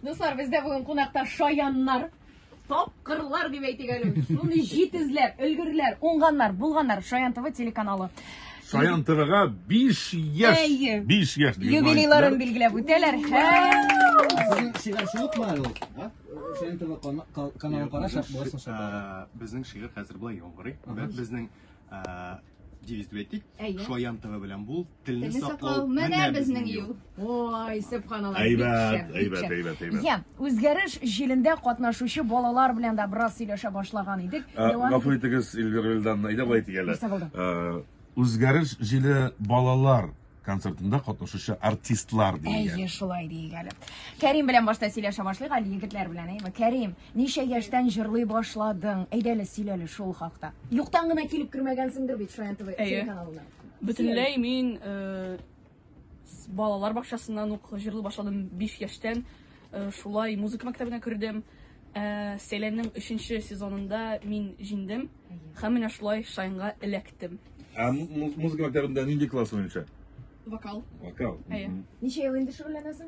Дуслар, бездә бүген кунакта шаяннар, тапкырлар дип әйтик әле. Шуны җитезләр, өлгерләр, уңганнар, булганнар Шаян ТВ телеканалы. Шаян ТВга 5 яшь, 5 яшь юбилейларын билгеләп үтәләр. Сезнең шигырь шулык ма әле? Шаян ТВ каналын караш, буласың шунда. Безнең шигырь хәзер була яңгырый. Безнең девиз дип әйтик. Шаян ТВ белән бул. Телне саклау, менә безнең юл. Ой, сөбханалла. Әйбәт, әйбәт, әйбәт, әйбәт. Я, үзгәреш җилендә катнашучы балалар белән дә бераз сөйләшә башлаган идек. Гафу итегез, Эльвира Вилдановна, әйдә болай дигәләр. Ә, үзгәреш җиле балалар концертында катнашучы артистлар дигән. Әйе, шулай диик әле. Кәрим белән башта сөйләшә башлыйк әле егетләр белән, әйеме? Кәрим, ничә яшьтән җырлый башладың? Әйдә әле сөйләле шул хакта. Юктан гына килеп кермәгәнсеңдер бит Шаян ТВ телеканалына. Бөтенләй мин э, с- балалар бакчасыннан ук җырлый башладым 5 яшьтән. Э, Шулай музыка мәктәбенә кердем. Ә, Сәйләннең 3 сезонында мин җиңдем һәм менә шулай Шайнга эләктем. Ә му- му- музыка мәктәбендә нинди класс буенча? Вокал. Вокал. Әйе. Мгм. Ничә ел инде шөгыльләнәсең?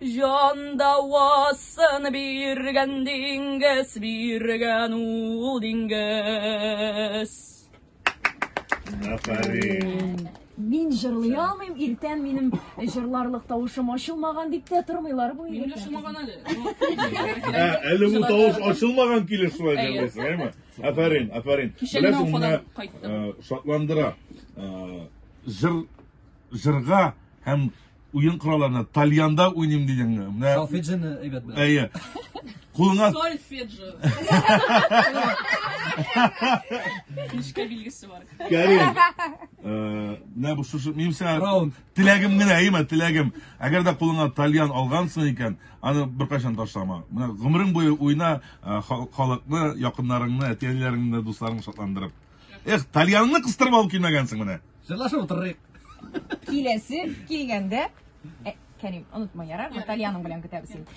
Җан давасын биргән диңгез, биргән ул диңгез. Афәрин. Мин җырлый алмыйм, иртән минем җырларлык тавышым ачылмаган дип тә тормыйлар бу Минем дә егетләр. шумаган әле. Ә, әле бу тавыш ачылмаган килеш шулай Әйе. җырлыйсың, әйме? Афәрин, афәрин. Кичәгенә Беләсең, менә уфадан кайттым. э, шатландыра. Э, Җыр җырга һәм Уен коралларына тальянда уйныйм дигәнгә. Менә Салфеджины әйбәт белә. әйе. Кулыңа Сольфеджио. Нечкә билгесе бар. Кәрим. Э, Менә бу шушы минем сиңа Раунд. теләгем генә, әйеме, теләгем. Әгәр дә кулыңа тальян алгансың икән, аны беркайчан ташлама. Менә гомерең буе уйна, э, ха- халыкны, якыннарыңны, әти-әниләреңне, дусларыңны шатландырып. Эх, тальянны кыстырып алып килмәгәнсең менә. Җырлашып утырыйк. Киләсе килгәндә, Кәрим, онытма, ярар? Итальяның белән көтәбез инде.